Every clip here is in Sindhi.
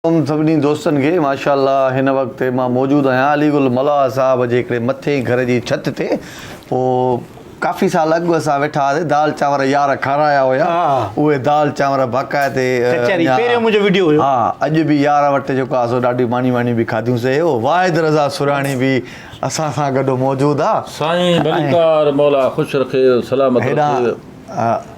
ام سڀني دوستن کي ماشاء الله هن وقت مان موجود آهيان علي گل ملاح صاحب جي هڪڙي مٿين گهر جي ڇت تي پو ڪافي سال اڳ اسان ويٺا هئاسي دال چانور يار کارايا هيا اهي دال چانور باقاعد تي ڪچهري پهريون منهنجو وڊيو هيو ها اڄ به يار وٽ جيڪو آهي سو ڏاڍي ماني واني به کاڌيون سي هيو واحد رضا سرهاڻي به اسان سان گڏ موجود آ سائين ڀليڪار مولا خوش رکي سلامت رکي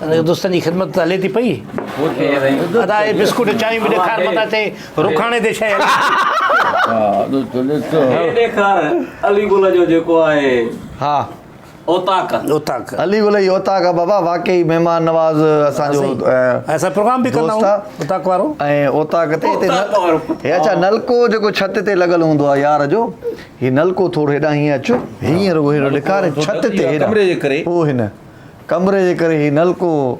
ته دوستن جي خدمت ته هلي ٿي پئي. ادا هي بسڪوٽ چانهيون به ڏيکار متان چئي رکاڻي تي شيء هي ڏيکار علي گل جو جيڪو آهي ها اوطاق اوطاق علي گل جي اوطاق آ بابا واقعي مهمان نواز اسان جو اسان پروگرام به ڪندا آهيون اوطاق وارو ۽ اوطاق تي هتي هي اڇا نلڪو جيڪو ڇت تي لڳل هوندو آ يار جو هي نلڪو ٿورو هيڏانهن هيئن اچ هيئن رڳو هيڏو ڏيکار ڇت تي هيڏانهن ڪمري جي ڪري پوء هن ڪمري جي ڪري هي نلڪو هو.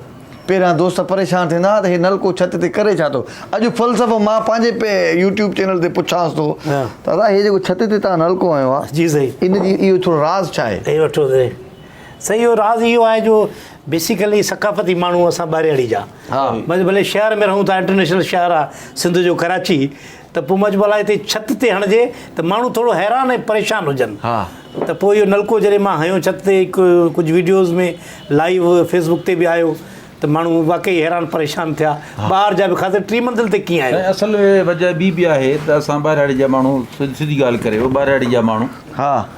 پهريان دوست پريشان ٿيندا ها ته هي نلڪو ڇت تي ڪري ڇا ٿو. اڄ فلسفو مان پنهنجي يوٽيوب چينل تي پڇانس ٿو ته ادا هي جيڪو ڇت تي توهان نلڪو هنيو آهي جي سائين ان جي اهو ٿورو راز ڇا آهي؟ هي وٺو سائين. سائين اهو راز اهو آهي جو بيسيڪلي ثقافتي ماڻهو اسان ٻارياڙي جا. ڀلي شهر ۾ رهون ٿا انٽرنيشنل شهر آهي سنڌ جو ڪراچي. ته پوء مچ ڀلا هتي ڇت تي هڻجي ته ماڻهو ٿورو حيران ۽ پريشان هجن ته پوء اهو نلڪو جڏهن مان هنيو ڇت تي هڪ ڪجهه ويڊيوز ۾ لائيو فيسبوڪ تي به آيو ته ماڻهو واقعي حيران پريشان ٿيا ٻاهر جا به خاص ڪري ٽي منزل تي ڪيئن آهيو. سائين اصل وجه ٻي به آهي ته اسان ٻاهراڙي جا ماڻهو سڌي ڳالهه ڪري ٻاهراڙي جا ماڻهو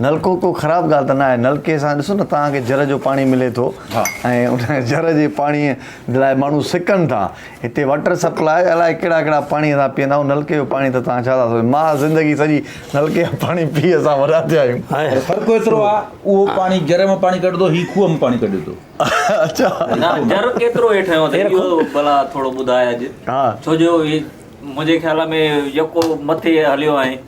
نلڪو ڪو خراب ڳالهه ته نه آهي، نلڪي سان ڏسو نه توهان کي جر جو پاڻي ملي ٿو ۽ ان جر جي پاڻي لاء ماڻهو سڪن ٿا، هتي واٽر سپلاء الائي ڪهڙا ڪهڙا پاڻي اسان پيئندا آهيون، نلڪي جو پاڻي ته توهان ڇا ٿا سوچو، مان زندگي سڄي نلڪي جو پاڻي پي اسان وڏا ٿيا آهيون. پر فرق ايترو آهي اهو پاڻي جر مان پاڻي ڪڍندو هي کوهه مان پاڻي ڪڍي ٿو. اچا. نه جر ڪيترو هيٺ هنيو اٿئي اهو ڀلا ٿورو ٻڌاء اڄ ڇو جو هي منهنجي خيال ۾ يڪو مٿي هليو آهين.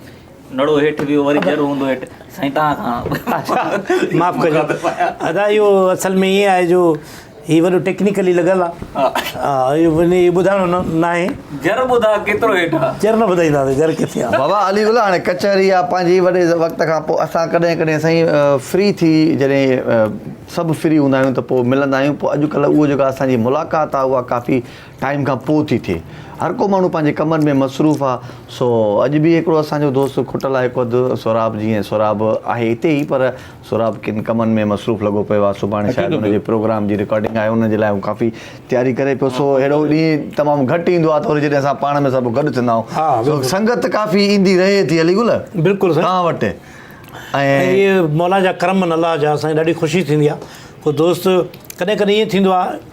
نڙو هيٺ ويو وري جر هوندو هيٺ سائين تان کان معاف ڪجو ادا اهو اصل ۾ ايئن آهي جو هي وڏو ٽيڪنيڪلي لڳل آهي ها اهو وني ٻڌائڻو نه ناهي جر ٻڌا ڪيترو هيٺ آهي جر نه ٻڌائيندا سي جر ڪٿي آهي بابا علي الله هاڻي ڪچهري آهي پنهنجي وڏي وقت کان پوء اسان ڪڏهن ڪڏهن سائين فري ٿي جڏهن سڀ فري هوندا آهيون ته پوء ملندا آهيون پوء اڄ ڪلهه اهو جيڪا اسان جي ملاقات آهي اها ڪافي ٽائيم کان پوء ٿي ٿئي. هر ڪو ماڻهو پنهنجي ڪمن ۾ مصروف آ سو اڄ به هڪڙو اسان جو دوست کٽل آ هڪ اڌ سهراب جي ۽ سهراب آهي هتي ئي پر سهراب ڪن ڪمن ۾ مصروف لڳو پيو آ سڀاڻي شايد ان جي پروگرام جي رڪارڊنگ آهي ان جي لاء هو ڪافي تياري ڪري پيو سو اهڙو ڏينهن تمام گهٽ ايندو آ ته وري جڏهن اسان پاڻ ۾ سڀ گڏ ٿيندا آهون سو سنگت ڪافي ايندي رهي ٿي علي گل توهان وٽ ۽ اهي مولا جا ڪرم ان الله جا اسان کي ڏاڍي خوشي ٿيندي آ ڪو دوست ڪڏهن ڪڏهن ائين ٿيندو آ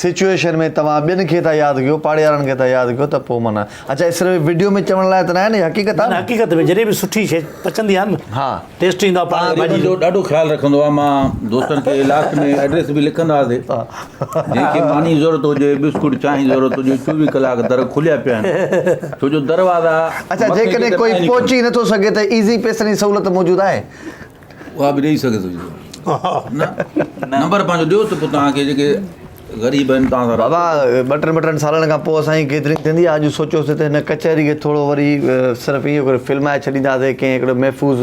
سچوئيشن ۾ توهان ٻين کي ٿا ياد ڪيو پاڙيارن کي ٿا ياد ڪيو ته پوء معنيٰ اڇا هي صرف وڊيو ۾ چوڻ لاء ته ناهي نه هي حقيقت آهي نه نه حقيقت ۾ جڏهن به سٺي شي پچندي آهي نه ها ٽيسٽ ايندو آهي پاڙي واري جو ڏاڍو خيال رکندو آهي مان دوستن کي لاسٽ ۾ ايڊريس به لکندا هئاسي جنهن کي ماني جي ضرورت هجي بسڪوٽ چانهه جي ضرورت هجي چوويهه ڪلاڪ در کليا پيا آهن ڇو جو دروازا اڇا جيڪڏهن ڪوئي پهچي نٿو سگهي ته ايزي پيسن جي سهولت موجود آهي اها به ڏئي سگهي ٿو نمبر پنهنجو ڏيو ته پوء توهان کي جيڪي غريب آهن توهان سان بابا ٻه ٽن ٻه ٽن سالن کان پوء سائين گيدرنگ ٿيندي آهي اڄ سوچيوسي ته هن ڪچهري کي ٿورو وري صرف ايئن ڪري فلمائي ڇڏينداسي ڪنهن هڪڙي محفوظ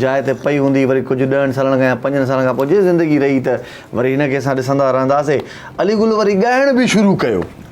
جاء تي پئي هوندي وري ڪجهه ڏهن سالن کان يا پنجن سالن کان پوء جي زندگي رهي ته وري هن کي اسان ڏسندا رهنداسي علي گل وري ڳائڻ به شروع ڪيو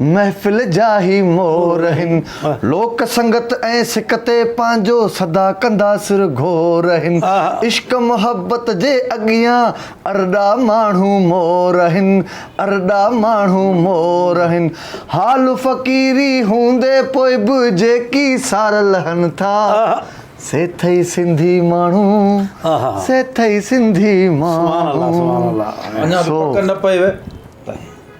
محفل جا هي مور هن، لوڪ سنگت ۽ سڪ تي پنهنجو سدا ڪندا سر گهور هن، عشق محبت جي اڳيان ارڏا ماڻهو مور هن، ارڏا ماڻهو مور هن، حال فقيري هوندي پوء به جيڪي سار لهن ٿا، سي ٿئي سنڌي ماڻهو، سي ٿئي سنڌي ماڻهو، سو.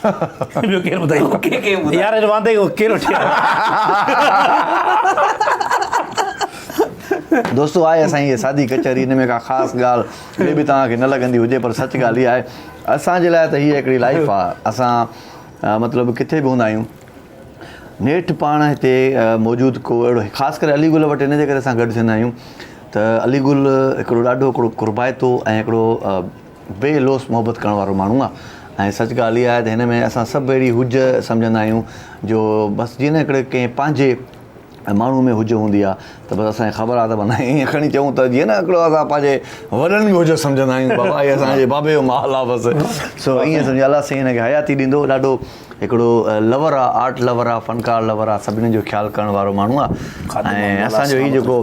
ٻيو ڪير ٻڌائيندو يار هن واندي کي ڪير وٺي آيو. دوستو آهي اسان جي هيء سادي ڪچهري ان ۾ ڪا خاص ڳالهه مي بي توهان کي نه لڳندي هجي پر سچ ڳالهه هيء آهي اسان جي لاء ته هيء هڪڙي لائيف آهي اسان مطلب ڪٿي به هوندا آهيون نيٺ پاڻ هتي موجود ڪو اهڙو خاص ڪري علي گل وٽ ان جي ڪري اسان گڏ ٿيندا آهيون ته علي گل هڪڙو ڏاڍو هڪڙو قربائتو ۽ هڪڙو بي لوث محبت ڪرڻ وارو ماڻهو آ ۽ سچ ڳالهه اها آهي ته هن ۾ اسان سڀ اهڙي هج سمجهندا آهيون جو بس جيئن نه هڪڙي ڪنهن پنهنجي ماڻهو ۾ هج هوندي آ ته بس اسان کي خبر آ ته معنيٰ ائين کڻي چئون ته جيئن نه هڪڙو اسان پنهنجي وڏن ۾ هج سمجهندا آهيون بابا هي اسان جي بابي جو محل آ بس سو ائين سمجهي الله سائين هن کي حياتي ڏيندو ڏاڍو هڪڙو لور آ آرٽ لور آ فنڪار لور آ سڀني جو خيال ڪرڻ وارو ماڻهو آ ۽ اسان جو هي جيڪو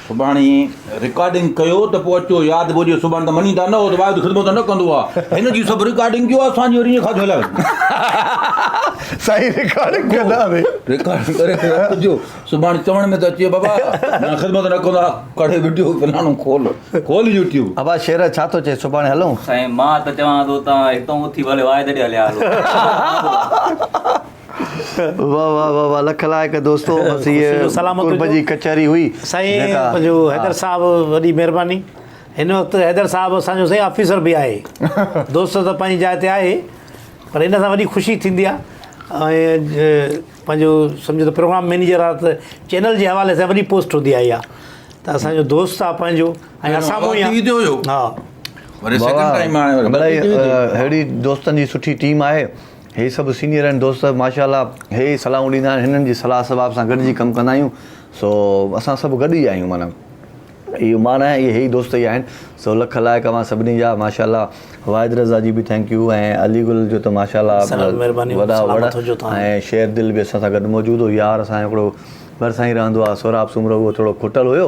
سڀاڻي رڪارڊنگ ڪيو ته پوء اچو ياد به هجي سڀاڻي ته مڃيندا نه هو ته واحد خدمت نه ڪندو آ هن جي سڀ رڪارڊنگ ڪيو آ سان جي وري ايئن کاڌو هلائي وڃي سائين رڪارڊنگ ڪندا به رڪارڊنگ ڪري ته اچو سڀاڻي چوڻ ۾ ته اچي بابا نه خدمت نه ڪندو آ ڪڙهي وڊيو فلاڻو کول کول يوٽيوب ابا شير ڇا ٿو چئي سڀاڻي هلون سائين مان ته چوان ٿو تان هتان اٿي ڀلي واحد ڏي هليا هلو واھ واھ واھ واھ لک لائق دوستو بس هي قرب جي ڪچهري هئي سائين جو حيدر صاحب وڏي مهرباني هن وقت حيدر صاحب اسان جو سائين آفيسر به آهي دوست ته پنهنجي جاء تي آهي پر هن سان وڏي خوشي ٿيندي آهي ۽ پنهنجو سمجهو ته پروگرام مينيجر آ ته چينل جي حوالي سان وڏي پوسٽ هوندي آهي اها ته اسان جو دوست آ پنهنجو ۽ اسان مون ٽي وي تي هيو ها وري سيڪنڊ ٽائيم آيو اهڙي دوستن جي سٺي ٽيم آهي هي سڀ سينيئر آهن دوست ماشاء الله هي ئي صلاحون ڏيندا آهن هنن جي صلاح صواب سان گڏجي ڪم ڪندا آهيون سو اسان سڀ گڏ ئي آهيون معنيٰ اهو مان ناهي اهي هي ئي دوست ئي آهن سو لک لائق اوهان سڀني جا ماشاء الله واحد رضا جي به ٿينڪ يو ۽ علي گل جو ته ماشاء الله وڏا وڙ ۽ شير دل به اسان سان گڏ موجود هو يار اسان جو هڪڙو ڀرسان ئي رهندو آهي سهراب سومرو اهو ٿورو کوٽل هيو